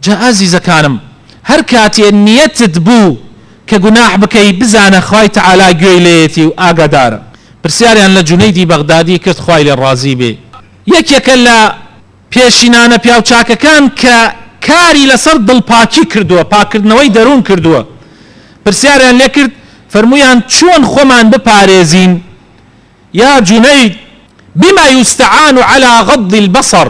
جا ئازیزەکانم هەر کاتێ نیەتت بوو کە گوناح بکەی بزانە خوای تەعالا گوێی لێیەتی و ئاگادارە، پرسیاریان لە جونەیدی بەغدادی کرد خوای لێ ڕازی بێ یەکێکە لە پێشینانە پیاوچاکەکان کە کاری لەسەر دڵپاکی کردووە پاککردنەوەی دەروون کردووە پرسیاریان لێ کرد فەرموویان چۆن خۆمان بپارێزین یا جونەید بما یستعان علی غض البصر،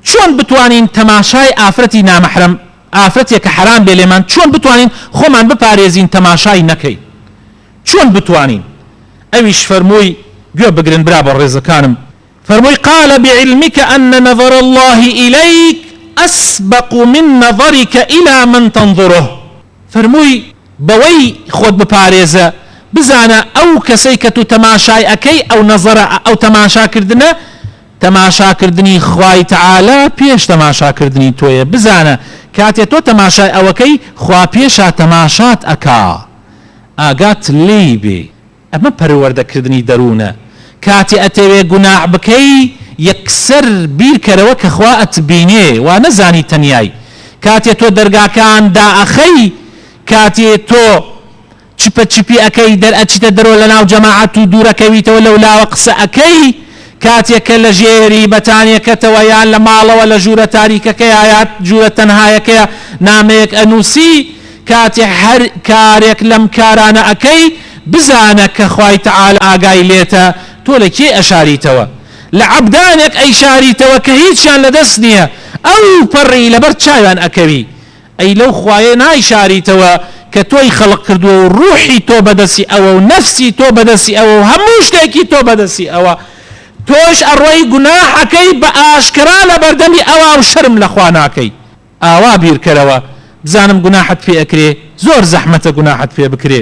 چۆن بتوانین تەماشای ئافرەتی نامەحرەم، ئافرەتێک کە حەرام بێ لێمان، چۆن بتوانین خۆمان بپارێزین تەماشای نەکەین؟ چۆن بتوانین؟ ئەویش فەرمووی، گوێ بگرن برا بەڕێزەکانم، فەرمووی، قال بعلمک ان نظر الله الیک اسبق من نظرک الی من تنظره، فەرمووی، بەوەی خۆت بپارێزە، بزانە ئەو کەسەی کە تو تەماشای ئەکەی، ئەو نەزەرە، ئەو تەماشاکردنە، تەماشاکردنی خوای تەعالا پێش تەماشاکردنی تۆیە، بزانە کاتێ تۆ تەماشای ئەوەکەی خوا پێشا تەماشات ئەکا ئاگات لێی بێ، ئەمە پەروەردەکردنی دەروونە، کاتێ ئەتەوێ گوناح بکەی یەکسەر بیرکەرەوە کە خوا ئەتبینێ وا نەزانی تەنیای، کاتێ تۆ دەرگاکان دائەخەی، کاتێ تۆ. چپە چپی ئەکەی دەرئەچیتە دەرۆ لەناو جەماعەت و دورەکەویتەوە لەولاوە قسە ئەکەی کاتێک کە لەژێری بەتانیەکەتەوە یان لەماڵەوە لەژورە تاریکەکەیا یا ژورە تەنهایەکەیا نامەیەک ئەنوسی کاتێک هەر کارێک لەم کارانە ئەکەی بزانە کە خوای تعالی ئاگای لێتە تۆ لە کێی ئەشاریتەوە لە عەبدانێک ئەیشاریتەوە کە هیچیان لەدەست نیە ئەوپەڕی لەبەر چاویان ئەکەوی ئەی لەو خوایەی نایشاریتەوە کە تۆی خەڵق کردووە و ڕووحی تۆ بەدەستی ئەوە و نەفسی تۆ بەدەستی ئەوە و هەموو شتێکی تۆ بەدەستی ئەوە تۆش ئەڕۆی گوناحەکەی بە ئاشکرا لە بەردەمی ئەوا و شەرم لە خوا ناکەی ئاوا بیرکەرەوە بزانم گوناحت پێ ئەکرێ زۆر زەحمەتە گوناحت پێ بکرێ.